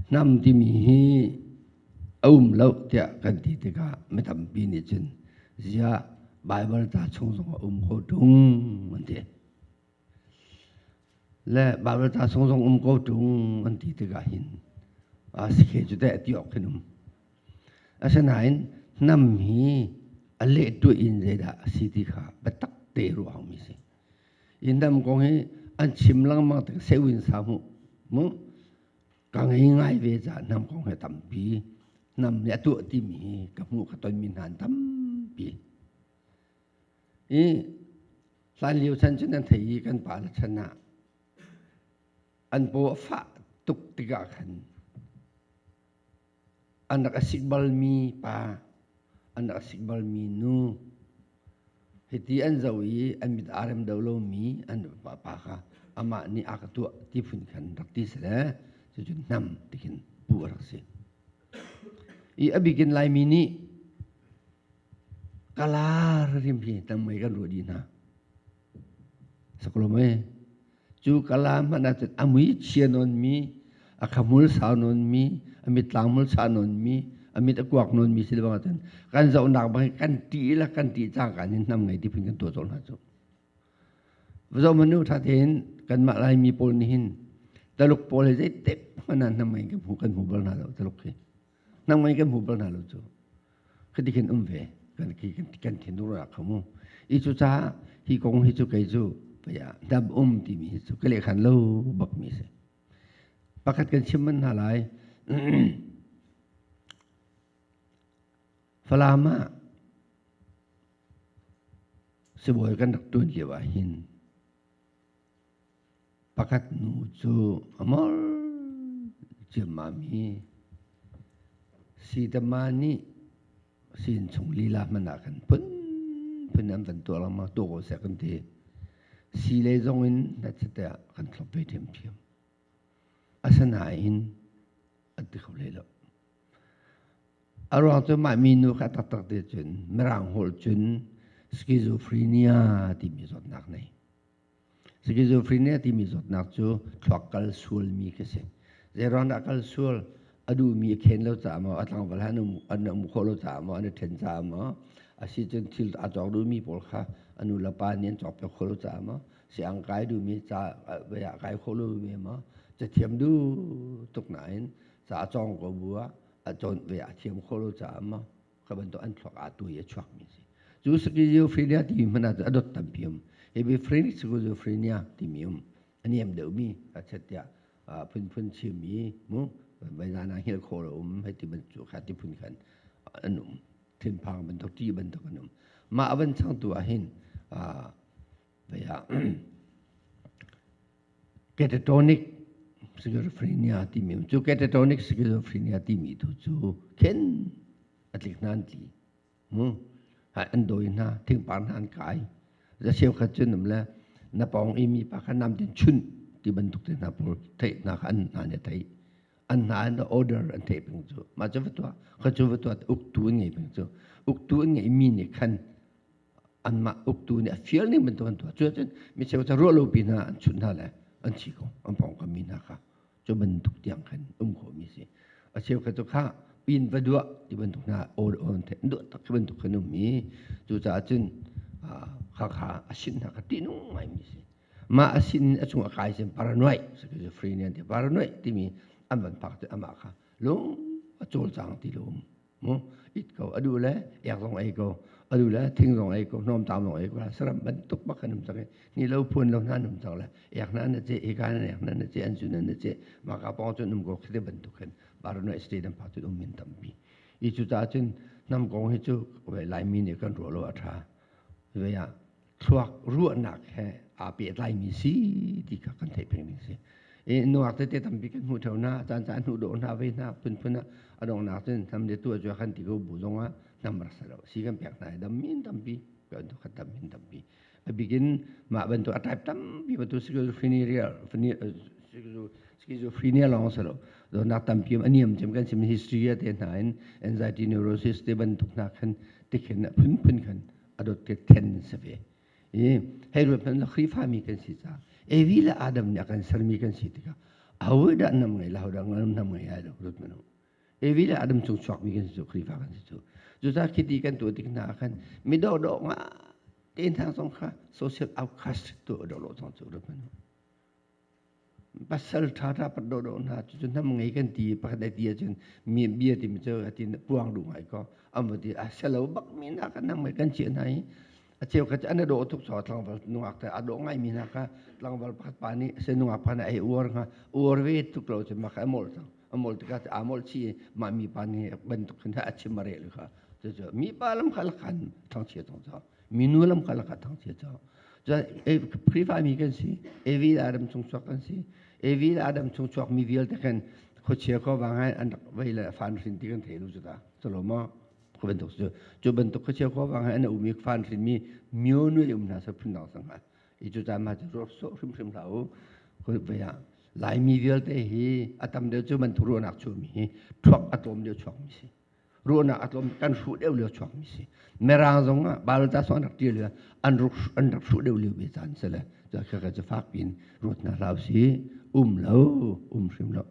hnam timi hi a um lo tiah kan ti tikah mi tampi nih cun ziah Baibal ta chung zong a um ko ṭung an ti. Le Baibal ta chung zong um ko ṭung an ti tikah hin a si khe cu teh ti awk hin um. Asinain hnam hi a leh tuah in zeidah a si ti kha biatak te ruah hau mi si. Inn dam kong hi an chim langmang tak sewin sa mu. mu ka ngei ngai ve caah nam kong hi tampi nam nih a tuah timi hi ka hmuh ka tonmi hna an tampi i hlan lio chan cu nan thei i kan pale chan ah an paw a fah tuk tikah khan An rak a sik balmi pa, an rak a sik balmi nu, hiti an zoh i an mit aa rem deuh lomi an vapa pa kha amah nih a ka tuah ti phun khan rak ti sile cucu hnam ti khin puh a rak si. I a bikin Laimi nih kala rim hi tam mei kan ruah dih hna. Sakulum ee. cu kala hmanh ahcun a mui chia nawnmi a khamul sau nawnmi a mitlaangmul sa nawnmi a mit a kuak nawnmi si lebang ahcun kan zohnak bang hi kan ṭih le kan ṭih cangkaan in hnam ngei dipin kan tuah zol hna cu vazomanu ṭhatein kanmah laimi pawl nih hin taluk pawl hi zeitik hmanh ah hnam ngei kan hmu kan hmu bal hna lo taluk khi nangmah kan hmu bal hna lo cu khati khin um ve kan kan thinur ra kho mu i cu caah hi kong hi cu kei cu paya dam um timi hi cu ka lehkhan lo bak mi si pakhat kan chim man hna lai falam ah sibawi kan rak tuan lio ah hin Pakhat nu cu a mor ciammam i Sidama nih siin chung lila hmanh ah khan phunphun an van tuah lengmang tuah ko seh kan ti. Sile zongin hnatchatiah kan thlop ve ṭhiamṭhiam. Asinain an ti kho leh lo. A ruang cu mah minu kha taktak te cun Mirang holh cun schizophrenia timi zawtnak nei. Schizophrenia timi zawtnak cu thluak kal sualmi ka si. Zeiruang dah kal sual a duhmi a khen lo caah maw, a tlangval han an um khawh lo caah maw, an i ṭhen caah maw, asicun thil a cawk duhmi pawl kha a nu le pa nih an cawkpiak khawh lo caah maw, si-ang kai duhmi ca vai ah kai khawh lomi maw, cathiam duh tuk nain ca a cawng ko bu ah a cawn vai ah a thiam khawh lo caah maw, ka bantuk an thluak a tu i a chuak mi si cu schizophrenia ti mi hmana cu a dot tampi um hypophrenic ti mi um a niam deuh mi a chet tiah phunphun chim mi mu vaizana hil khaw lo um hei ti bantuk kha ti phun khan an um thinphang bantuk ti bantuk an um mah a van changtu ah hin Catatonic schizophrenia timi cu catatonic schizophrenia timi tu cu khen a tlik hna an tli. An dawi hna, thingpar hna an kai. Za cheukhat cu nam le na pawng i mi pa kha nam tin chun ti bantuk te hna pawl theih hna kha an hna nih a theih. An hna an order an theih peng cu. Mah cu vatuah, kha cu vatuah uktu an ngei peng cu. Uktu an ngeihmi nih khan anmah uktu nih a fial ning bantuk an tuah cu ahcun mi cheu cu ruah lopi hna an chunh hna le an chi ko an pawngkam mi hna kha cu bantuk tiang khan um khawhmi a si a cheukhat cu kha pin va duah ti bantuk hna awl awn the duah tak ti bantuk khan um i cucaah cun khakha a sin hna kha tihnung ngaimi a si mah a sin a chung a kai sin paranoid schizophrenia ti paranoid timi an van phak cu amah kha lung a cawlcang ti lo um it ko adu le ek zong ei ko adu le thing zong ei ko hnawm tam zong ei ko saram bantuk bak kan um cang ni lo phuan lo nan um cang le ek nan na che eka nan ek nan na che an chu nan na che ma ka pong chun um ko khite bantuk hen barno state am pha tu um min tampi i chu ta chun nam kong hi chu lai mi ne kan ro lo atha ve ya thluak ruahnak he aa pehtlaimi si ti kha kan theih pengmi a si. I nuak tete tampi kan hmuh theo hna, caan caan hnuh dawh hna, vei hna, phunphun ah a dongnak cun nam le tua cu kan ti ko bu zong ah nam rak si lo. Si kan pek hna i dam min tampi, kan tu kan dam min tampi. A bikin mah bantuk a type tampi bantuk schizophrenia schizophrenia lawng si lo. Donnak tampi a niam cem kan sim history a te hna in anxiety neurosis te bantuk hna khan tikhin phunphun khan a dawtkek then si ve i hei ruat hmanh Khrihfami kan si caah Evi le Adam nih a kan sermi kan si tikah ahodah nam ngei le ahodah nam ngei ai lo ruat hmanh Evi le Adam cung chuakmi kan si cu Khrihfa kan si cu cucaah khiti kan tuah tik hna ah khan mi dawhdawh nga te hna zong kha social outcast tu a dawh lo cang cu ruat hmanh Pasal ṭha ṭha pat dawhdawh hna, cucu nam ngei kan ti i pakhat a ti ahcun mi bia timi cu a ti puang duh ngai ko. An va ti, a selo bak mi hna kha nam ngei kan ciah hna i a cheukhat cu an i dawh a tuk caah tlangval nungak te a dawh ngaimi hna kha tlangval pakhat pa nih se nungak pa nih a ei uar hnga uar ve tuk lo cu mah kha a molh cang a molh tikah aa molh chih i mah mipa nih bantuk khin a chim a reh kha cucu mipa lam kha lakhan ṭhangchia cang caah minu lam kalak ah thangchia cawk cun khrihfa mi kan si avid adam chungchuak kan si avid adam chungchuak mi vialte khan khuachia ko wang hai an rak vei le fan hrin ti kan thei lu cuta colo ma khu bantuk cu cu bantuk khuachia ko wang hai an umi fan hrin mi myo nu um na sa phun dang sang ha i cu ta ma cu ro so hrim hrim la u khu vei a lai mi vialte hi atam de cu man thuru nak chu mi hi thuak atom de chuak mi si ruahnak a tlawm kan hruh deuh lio chuak mi si mirang zong ah balta song rak tir lio an ruk an rak hruh deuh lio ve caan se le cha kha ka fak in ruat na hlau si um lo um hrim lo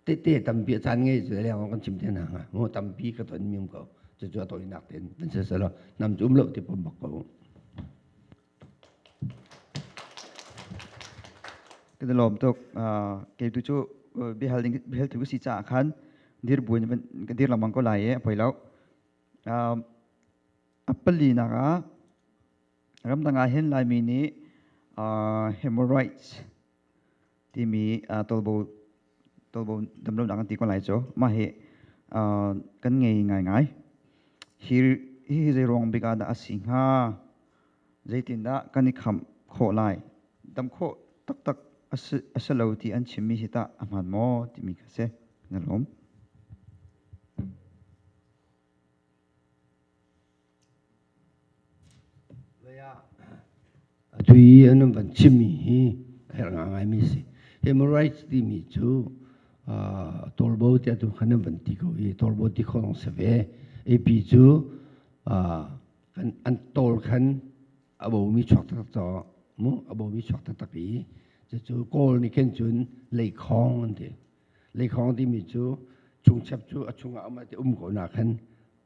te te tampi caan ngei se le kan chim te na nga mo tampi ka ton mium ko chu chu to inak ten tan se lo nam chum lo ti pom bak ko Kan i lawm tuk. Uh, kei tu cu uh, bihal ding bihal tu si caah khan dir buin kan dir lengmang ko lai e poi lo. Uh, a pali nak ah ramdang ah hin laimi nih uh, human rights timi uh, tolbo tolbo damlonak an ti ko lai cu mah hi uh, kan ngei ngaingai hi hi zei ruang bika dah asi hnga zeitin dah kan i kham kho lai dam kho taktak asa lo ti an chimmi hi ta ahman maw timi ka se na lawm Atu i an van chimmi hi a herh ngaingaimi a si. Human rights timi cu tawlbo tiah tu khan an van ti ko i tawlbo ti khawh zong si ve. AP cu an tawl khan a bomi chuak taktak caah mu a bomi chuak taktak i cucu Kawl nih khin cun leikhawng an ti. Leikhawng timi cu chung chep cu a chungah a um ko nakhan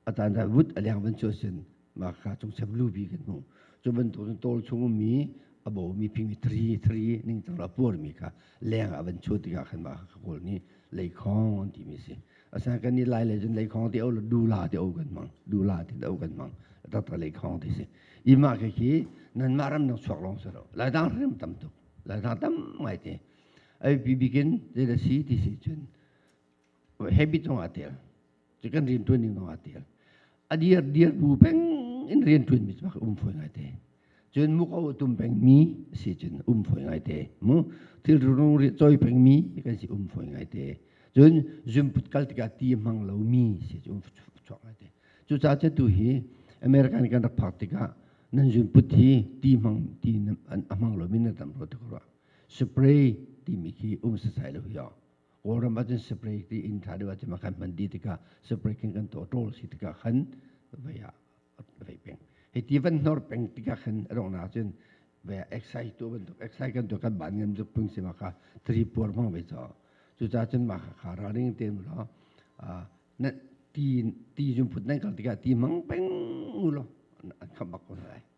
atan ta rut aliang van chu sin ma kha chung sem lu bi kan hmu chu ban to tol chung mi abo mi ping tri tri ning tang la por mi kha leng avan chu tiga khan ma kha kol ni lei khong ti mi si asa kan ni lai le jun lei khong ti au du la ti au kan mang du la ti au kan mang ta ta lei khong ti si ima khe khi nan ma ram nang chuak long sero lai dang rim tam tu lai dang tam mai te ai bi bikin te da si ti si chun habit zong aa tel cu kan rian ṭuan ding zong aa tel a dir dir bu peng in rian ṭuan mi cu um fawi ngai te cun muk o tum peng mi si cun um fawi ngai te mu thil rung ri choi peng mi kan si um fawi ngai te cun zumput kal tikah ti hmang lo mi si cu um chuak ngai te cu ca ce tu hi America nih kan rak phak tikah nan zunput hi ti hmang ti a hmang lo mi na tam ro te ko rua spray timi khi um sasai lo hi Kawlram ahcun spray ti in tha deuh ahcun kan hman dih tikah spray khin kan to ṭol si tikah khan vei ah vei peng. Hi ti van hnor peng tikah khan a dong ahcun ve exercise tu bantuk exercise kan tu kan ban ngan tuk pung si maka tri puar mang ve cho cuca cun maka kha ra ring te mu lo na ti ti jum phut nan kal tikah ti mang peng u lo an kham bak ko lai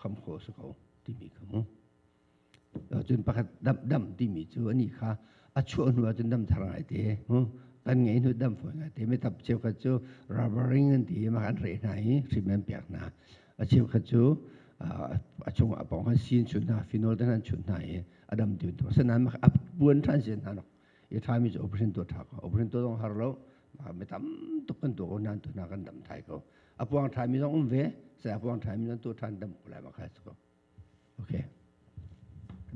kham kho si ko timi kha mu cun pakhat dam dam timi cu ani kha a chuah hnu ah cun dam thar ngai te kan ngei hnu dam fawi ngai te metap cheukhat cu rubbering an ti ma kan re hna i hrim an piak hna a cheukhat cu a chung ah pong han sin chun hna phenol tan an chun hna i a dam tiun to sanan ma a puan than sin hna nok i thami cu operation to tha ko operation to zong har lo mi tam tuk kan to ko nan to na kan dam thai ko apuang thai mi zong um ve sai apuang thai mi zong to than dam ko lai ma khai ko okay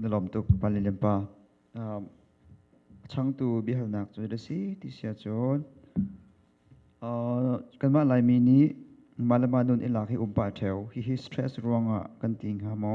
na lom tuk pali lempa chang tu bihal nak cu da si ti sia chon kanma lai mi ni malama nun ilak hi umpa theu hi hi stress ruanga kan ting ha mo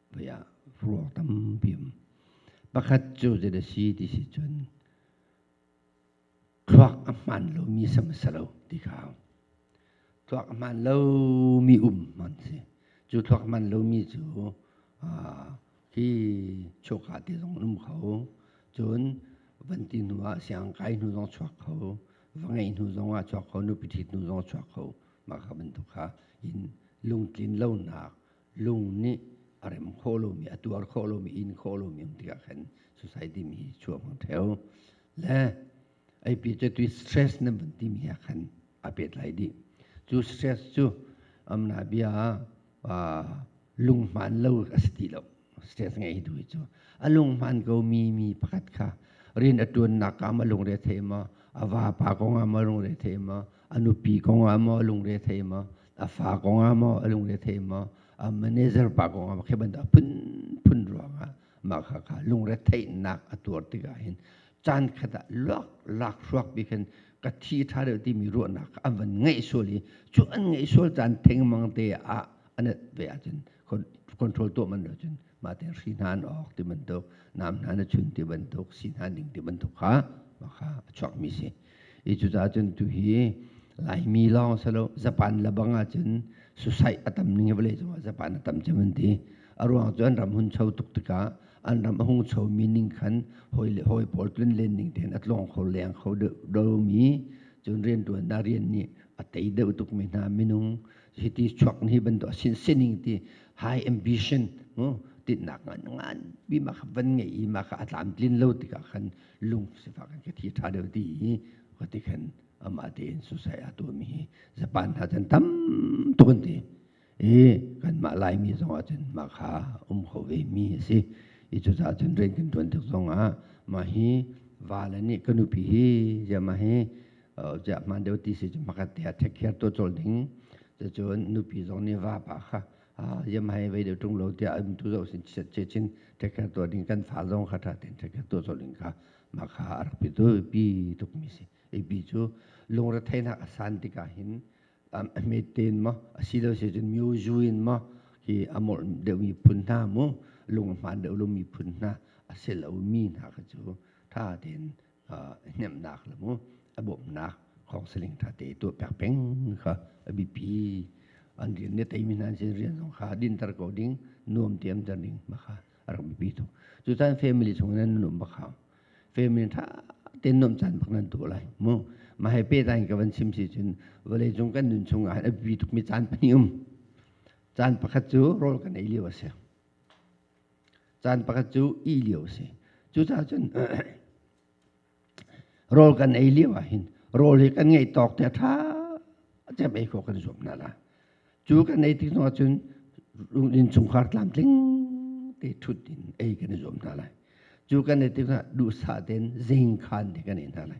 pei ah ruak tampi um. Pakhat cu zet a si ti si cun thluak a hmaan lomi sam a si lo ti kha thluak a hmaan lomi um man si. Cu thluak hmaan lomi cu hi choka te zong um kho. Cun van ti hnu ah siang kai hnu zong chuak kho. Va ngeih hnu zong ah chuak kho. Nu piṭhit hnu zong chuak kho. Mah kha bantuk kha in lungtlin lonak lung nih a rem khawh lomi a tuar khawh lomi in khawh lomi um tikah khan society mi hi chuak mang theo le ai pi cu tui stress nan van ti mi ha khan a pet lai dih cu stress cu amna bia lunghman lo a si ti lo stress ngei tu hi cu a lunghman ko mi mi pakhat kha rin a tuannak ka ma lungre the ma a va pa kong ah ma lungre the ma a nupi kong ah ma lungre the ma a fa kongah maw a lungrethei maw a manager pa kongah maw khi bantuk phunphun ruangah mah kha kha lungretheihnak a tuar tikah hin caan khat ah luak lak hruak bi khan ka thi ṭha deuh timi ruahnak an van ngeih sual i cu an ngeih sual caan thengmang te ah an ve ahcun control tuah man cun mah te hri hna an awk ti bantuk nam hna na chun ti bantuk si hna ning ti bantuk kha maka a chuak mi si i cu ca cun tu hi laimi lawng salo japan labang ah cun susai atam ning vale chung japan atam cheman ti aruang cun ram hun cho tuk tika an ram a hung cho mi ning khan hoi le hoi pol tlun len ning ten atlong kho leng kho do mi cun rian tuan da rian ni atei deuh tuk mi hna minung hiti chuak ni bantuk sin sining ti high ambition tinnak ngan ngan mi ma kha van ngei i ma kha a tlam tlin lo tikah khan lung sifa kan ka thi tha deuh ti i kati khan ama te in susai atu mi hi japan ha chan tam tun ti i kan ma lai mi zong ah cun ma kha um ho ve mi a si i cu ca cun ren kan tuan tik zong ah ma hi vala nih kanupi hi jama hi Ziah hmaan deuh ti si cu hmakat te ah thekhiar to col ding. Cacun nupi zong nih vapa kha ziam hai vei deuh ṭung lo tiah um tu zoh sin che chin thekhiar to ding kan fa zong kha ṭha tein thekhiar to col ding kha maka a rak pi tu pi tukmi si. Ei pi cu lungretheihnak a san tikah hin a met tein maw a si lo si cun myo zu in maw hi a mol deuh miphun hna mu lung hmaan deuh lo miphun hna a se lo mi hna kha cu ṭha tein hnemhnak le mu a bawmhnak counseling tha te tuah piak peng kha a bipi an rian ne teimi hna sin rian zong kha dinter ko ding nuam tiam ter ding makha rak bipi thung cu tan family chung nan nuam bakha family tha ten nuam chan bak nan tu lai mu ma hai pe tan ka van sim si cun vale chung kan nun chung a bi tuk mi chan pani um chan pakhat cu rol kan ei liu ase Caan pakhat cu ih lio a si. Cucaah cun rawl kan ei lio ahhin rawl hi kan ngeih tawk te a ṭha cem ei khawh kan zuam hna la. Cu kan ei tik zongah cun innchungkhar tlamtling te ṭhut in ei kan i zuam hna lai. Cu kan ei tik zongah duhsah tein zingkhan te kan ei hna lai.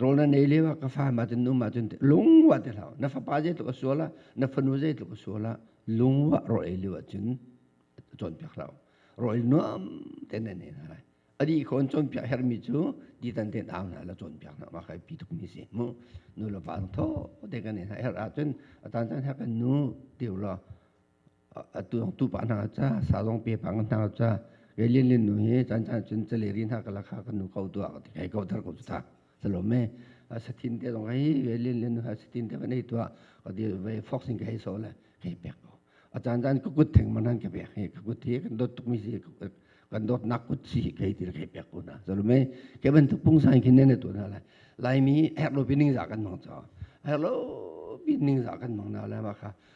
Rawl na nei lio ah ka fam ahcun um ahcun lungwah ti hlah. Na fapa zeitluk a sual ah, na fanu zeitluk a sual ah, lungwah rawl ei lio ahcun cawnpiak hlah. Rawl nuam tein na nei hna lai. A dih ko in cawnpiak herhmi cu titan tein au hna la cawnpiak hna. Mah kai pi tukmi si mu. Nu le va thawh te kan ei hna. Herh ahcun a tan caan her kan nu teu law atu pa hna ca sa zong pe pa hna ca ke lin lin nu hi chan chan cun chale ri hna kala kha kan nu ko tua ti kai ko thar ko ta salome satin te dong ai ke lin lin nu ha satin te vanai tua ka di ve foxing kai so le kai pek ko a chan chan ku kut theng manan ke pek hi ku kut hi kan dot tuk mi si kan dot nak kut si kai ti kai pek ko na salome ke ban tu pung san khin ne tu na lai lai mi her lo pining za kan mong cho her lo pining za kan mong na la ma kha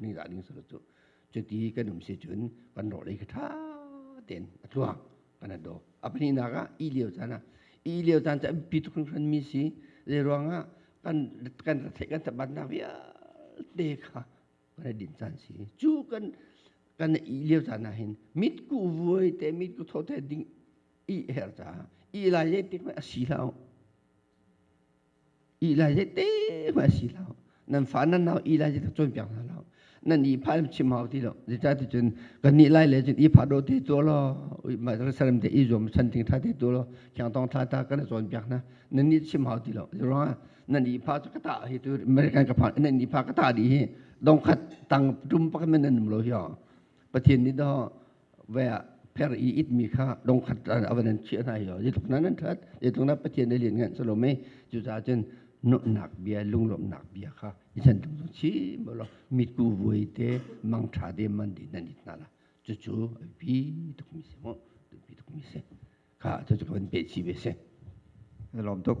ning dah ning solo cu cuti kan um si cun kan rawh lei kha ṭha tein a tluang kan an do a pahnihnak ah i lio caan ah i lio caan cu an pi tuk hringhran mi si zei ruangah kan kan theih kan tabannak vialte kha kan i din caan si cu kan kan i lio caan ah hin mit ku vuai te mit ku tho te ding i her caah i lai zei tik a si lo Ilai hi te ma si lo. Nan fa nan nau ilai hi tak cawn piak hna lo. Nan i pha lam chim hau ti lo. Zeta tu cun kan ni lai le cun i pha do te tuo lo. Ui ma saram te i zuam san ting tha te tuo lo. Khiang tong tha ta kan cawn piak hna. Nan ni chim hau ti lo. Zurang nan i pha cu kata hi tu American ka pha nan i pha kata di hi dongkhat tang tum pakan men nan lo hi o. Pathian ni do ve per i it mi kha dongkhat a van an chiah hna hi yetluk nan an that yetluk na pathian ai lian ngan salo mei cu ca cun nuhnak bia lunglawmhnak bia kha i chan tung tung chi mo lo mit ku vuai te mang tha de man di nan it na la cu cu pi tuk mi se mo pi tuk mi se kha tu chu kan pe chi ve se lom tuk